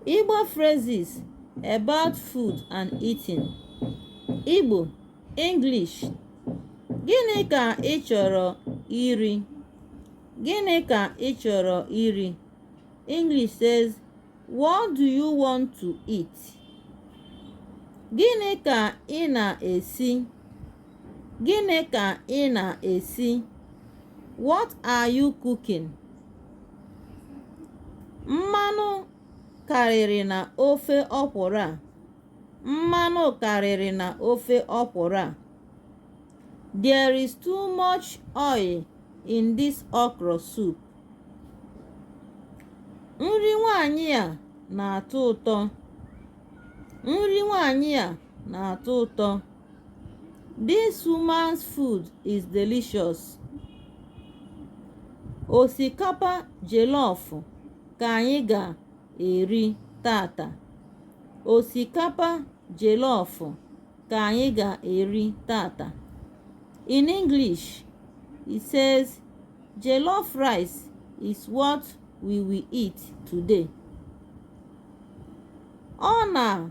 Igbo phrases about food and eating. Igbo, English. Gịnị ka ị chọrọ iri? Gịnị ka ị chọrọ iri? English says, What do you want to eat? Gịnị ka ị na-esi? Gịnị ka ị na-esi? What are you cooking? mmanụ karịrị na ofe ọkwụrụ a mmanụ karịrị na ofe ọkwụrụ a there is too much oil in this okra soup nri nwanyị a na-atọ ụtọ nri nwanyị a na-atọ ụtọ This woman's food is delicious. Osikapa jollof ka anyị ga-eri tata. Osikapa jollof ka anyị ga-eri tata. In English, it says jollof rice is what we will eat today. Ọ na